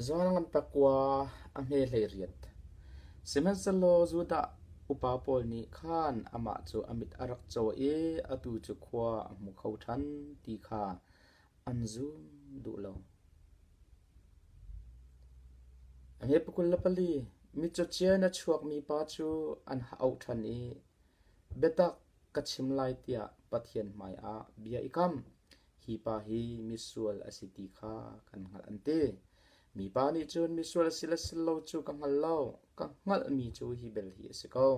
Zual ngan pa kua a hme hleiriat. Sihmanhsehlaw Judah upa pawl nih khan amah cu a mit a rak caw i atu cu khua a hmu kho ṭhan ti kha an zum duh lo. Hi pakul le pali mitcawcia in a chuakmi pa cu an ha auh ṭhan i, “Biatak ka chim lai,” tiah Pathian hmaiah bia i kam. Hi pa hi misual a si ti kha kan hngalh an ti. Mipa nih cun misual si le si lo cu ka hngal lo, ka hngalhmi cu hi bel hi a si ko.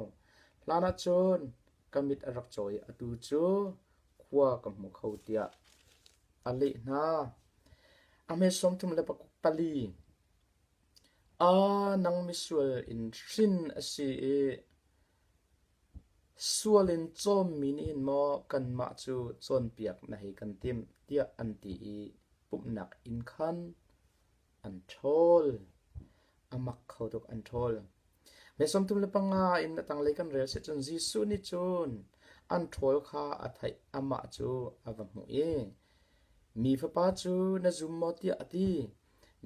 Hlanah cun ka mit a rak caw i atu cu khua ka hmu kho tiah a leh hna. A hme sawmthum le pali. Aa nang misual in hrin a si i Sual in cawmmi na in maw kanmah cu cawnpiak na hei kan timh tiah an ti i pumhnak inn khan an ṭhawl. A mak kho tuk an ṭhawl. Mei sawmtum le panga in a tanglei kan rel seh cun Jesuh nih cun an ṭhawl kha a theih. Amah cu a va hmuh i, Mi Fapa cu na zum maw? tiah a ti.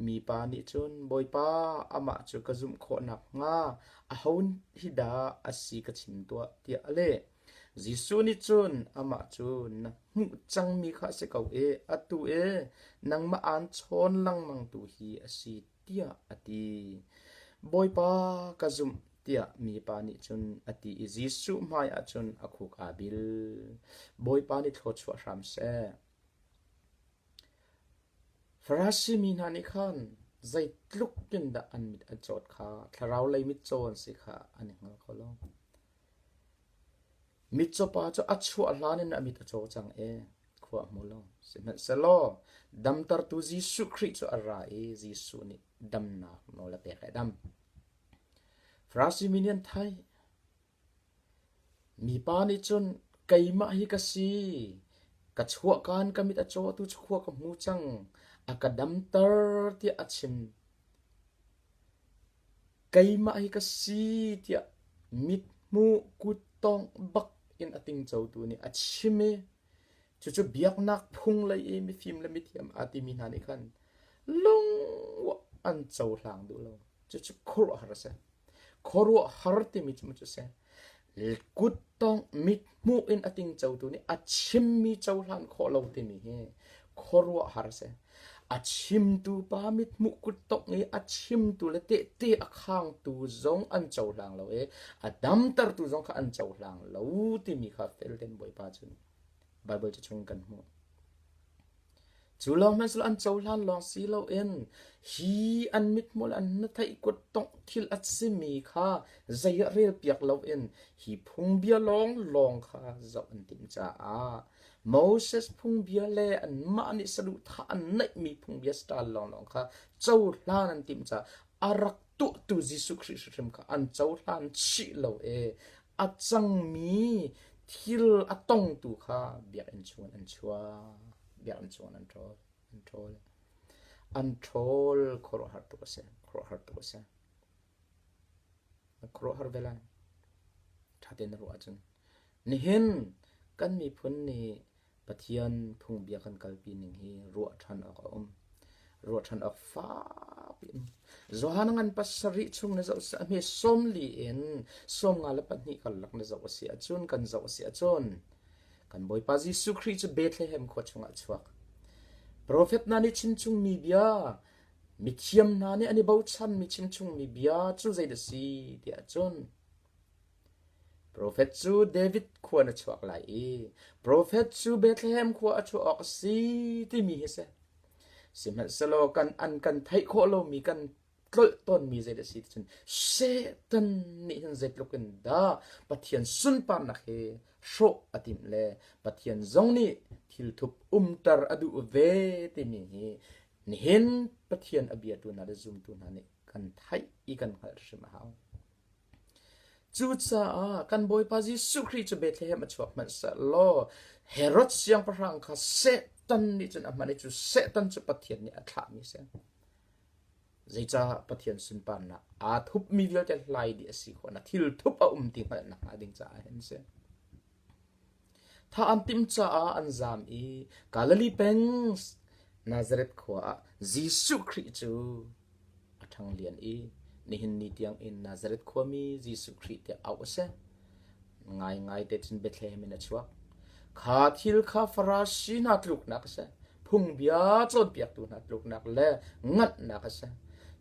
Mipa nih cun, Bawipa, amah cu ka zumh khawh nakhnga aho hi dah a si ka chim tuah, tiah a leh. Jesuh nih cun amah cu, Na hmuh cangmi kha a si ko i atu i nangmah aan chawn lengmangtu hi a si, tiah a ti. Bawipa, ka zumh, tiah mipa nih cun a ti i Jesuh hmaiah cun a khuk aa bil. Bawipa nih thlaw chuah hram seh. Farasi mi hna nih khan zeitluk in dah an mit an cawt kha thlarau lei mitcaw an si kha an i hngal kho lo. Mitcaw pa cu a chuah hlan in a mit a caw cang i khua a hmu lo. Sihmanhsehlaw damtertu Jesuh Khrih cu a ra i Jesuh nih damnak nawl a pek i a dam. Farasi mi nih an theih, Mipa nih cun “Keimah hi ka si, ka chuahkan ka mit a cawtu chuah ka hmu cang, a ka damter”, tiah a chim. Keimah hi ka si tiah mithmuh kuttawngh bak in a tingcotu nih a chim i cucu biaknak phung lei i mifim le mithiam aa timi hna nih khan lungwah an cohlang duh lo. Cucu khuaruahhar a si. Khuaruahhar timi cu a si. Kuttongh mithmuh in a tingcotu nih a chimmi cohlan khawh lo timi hi khuaruahhar a si. A chimtu pa mithmuh kuttongh i a chimtu le tehte a khangtu zong an cohlang lo i a damtertu zong kha an cohlang lo timi kha fel tein Bawipa cu Baibal cu chung in kan hmuh. Cu lawng hmanhsehlaw an cohlan lawng si loin hi an mithmul an hnatheih kuttongh thil a simi kha zei ah relpiak loin hi phungbia lawnglawng kha zoh an timh caah Moses phungbia le anmah nih saduhthah an neihmi phungbia sitaal lawnglawng kha cohlan an timh caah a rak tuahtu Jesuh Khrih hrimhrim kha an cohlan chih lo i a cangmi thil a tongtu kha biakinn chungin an chuah. biakinn chung an ṭhawl. An ṭhawl. An ṭhawl khuaruahhar tuk a si. Khuaruahhar tuk a si. A khuaruahhar ve lai. Ṭha tein na ruah ahcun. Nihin kan miphun nih Pathian phungbia kan kalpi ning hi ruah ṭhan awk a um. Ruah ṭhan awk fak in. Johan ngan pasarih chung na zoh seh. Hme sawm li in sawm nga le pahnih karlak na zoh a si ahcun, kan zoh a si ahcun, Kan Bawipa Jesuh Khrih cu Bethlehem khua chungah a chuak. Profet hna nih chimchungmi bia, mithiam hna nih an i bochanmi chimchungmi bia cu zeidah si tiah cun Profet cu David khua na chuak lai i profet cu Bethlehem khua a chuah awk a si timi hi a si. Sihmanhsehlaw kan an kan theih khawh lomi kan tlolh tawnmi zeidah a si ti cun Satan nih hin zeitluk in dah Pathian sunparnak hi hrawh a timh le Pathian zong nih thilthup umter a duh ve timi hi nihin Pathian a biatu hna le zumtu hna nih kan theih i kan hngalh hrim a hau. Cucaah kan Bawipa Jesuh Khrih cu Bethlehem a chuak hmanh seh law Herod siangpahrang kha Satan nih cun a hman i cu Satan cu Pathian nih a thlahmi a si. Zeicah Pathian sunparnak aa thupmi vialte hlai dih a si khawh na thilthup a um ti hngalh nakhnga ding caah hin a si. Tha an timh caah an zaam i Galilee peng Nazareth khua ah Jesuh Khrih cu a ṭhanglian i nihin ni tiangin Nazareth khuami Jesuh Khrih tiah auh a si. Ngaingai te cun Bethlehem in a chuak. Kha thil kha Farasi hna tluknak a si, phungbia cawnpiaktu hna tluknak le nganhnak a si.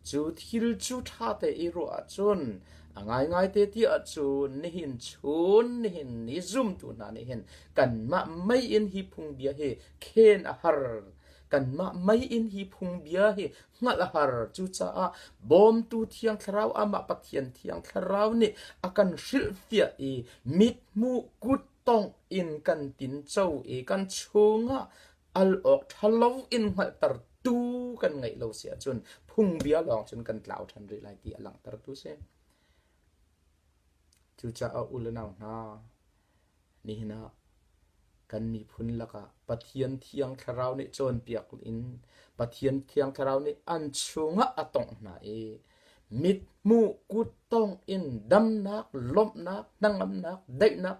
Cu thil cu ṭha te i ruah ahcun a ngaingai te ti ahcun nihin chun nihin ni zumtu hna nih hin kanmah mei in hi phungbia hi khen a har. Kanmah mei in hi phungbia hi hngalh a har. Cucaah bawmtu thiang thlarau amah Pathian thiang thlarau nih a kan hrilhfiah i mithmuh kut tongh in kan tinco i kan chungah al awk ṭhalo in hngalhtertu kan ngeih lo si ahcun phungbia lawng cun kan tlau ṭhan rih lai ti a langhtertu si. Cucaah u le nau hna, Nihin ah kan miphun lakah Pathian Thiang Thlarau nih cawnpiak in Pathian Thiang Thlarau nih an chungah a tongh hna i mithmuh, kuttong in damnak, lawmhnak, hnangamnak, daihnak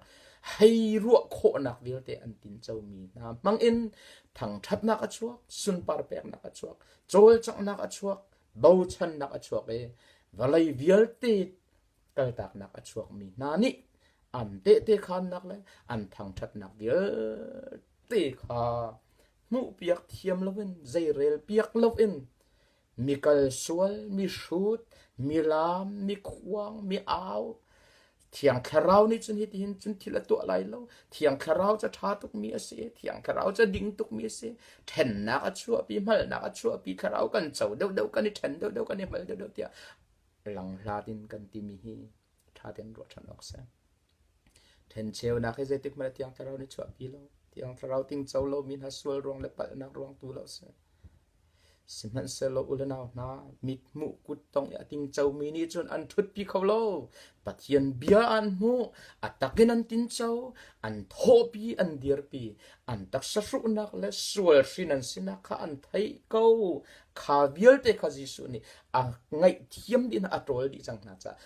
hei ruah khawhnak vialte an tincomi hna hmangin thangṭhatnak a chuak, sunpar peknak a chuak, cawlcanghnak a chuak, bochannak a chuak i vawlei vialte kaltaknak a chuakmi hna nih an tehtekhannak le an thangṭhatnak vialte kha hmuhpiak thiam loin zeirel piak loin mi kal sual, mi hrut, mi lam, mi khuang, mi au, Thiang Thlarau nih cun hitihin cun thil a tuah lai lo. Thiang Thlarau cu ṭha tukmi a si. Thiang Thlarau cu ding tukmi a si. Ṭhennak a chuahpi, hngalhnak a chuahpi. Thlarau kan co deuhdeuh kan i ṭhen deuhdeuh kan i hngal deuhdeuh tiah Lang hlat in kan timi hi tha ten ruah than awk si. Thencheunak hi zeitik mah tiang thlarau ni chuahpi lo. Tiang thlarau tingco lo mi hna sual ruang le palhnak ruang tu lo si. Sihmanhsehlaw ulenau hna mit hmuh kut tong i ating comi nih cun an thutpi kho lo. Pathian bia an hmuh, atakin an tinco, an thawpi an dirpi, an taksahruhnak le sual hrin an sinak kha an thei ko. Kha vialte kha Jesuh nih a ngaihthiam ding a ṭawl dih cang hna caah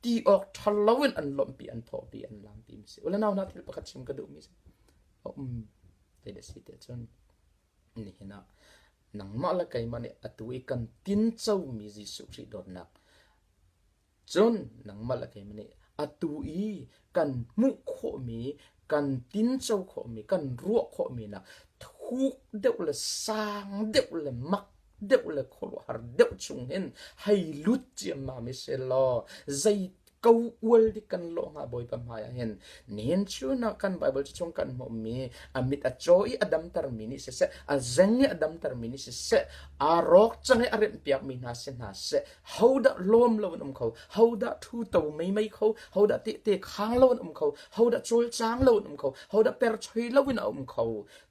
ti awk ṭha loin an lawmhpi an thawhpi an lam timi si ule nau hna thil pakhat chim ka duhmi si um ti le si te cun nihin ah nangmah le keimah nih atu i kan tinco mi Jesuh Khrih dawtnak Cun nangmah le keimah nih atu i kan hmuh khawhmi, kan tinco khawhmi, kan ruah khawhmi nak thuk deuh le sang deuh le mak deuh le khuaruahhar deuh chung hin hei lut ciammam i selaw zei ko ual dik kan lawh hnga Bawipa hmaiah hin nihin chunah kan Bible cu chung kan hmuhmi a mit a caw i a damtermi nih siseh a zeng i a damtermi nih siseh aa rawk cang i a remhpiakmi hna si hna seh hodah lawm lo an um kho hodah thu to meimei kho hodah tehte khang lo an um kho hodah cawlcang lo an um kho hodah perchoi lo in a um kho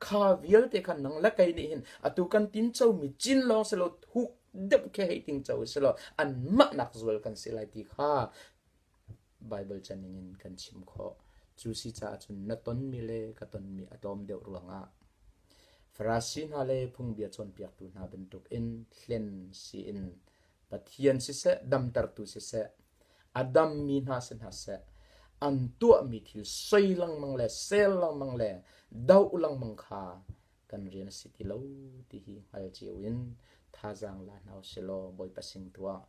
kha vialte khan nang la kei nih hin atu kan tin cho mi cin long se lo huk dem khe hei ting cho se lo an mah nak zual kan si lai ti kha Baibal ca ningin kan chim khawh. Cu si caah cun na tonmi le ka tonmi a tlawm deuh ruangah Farasi hna le phungbia cawnpiaktu hna bantukin hlen siin Pathian siseh, damtertu siseh, a dammi hna si hna seh, an tuahmi thil soi lengmang le sel lengmang le doh lengmang kha kan rian a si ti lo ti hi hngal cio in thazaang la hna u silaw Bawipa sin tu ah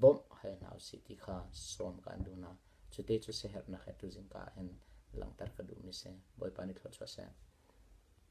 bawmh hal hna usih ti kha sawm ka an duh hna. Cuti cu siaherhnak he tuzingka in langhter ka duhmi si. Bawipa nih thlawchuah seh.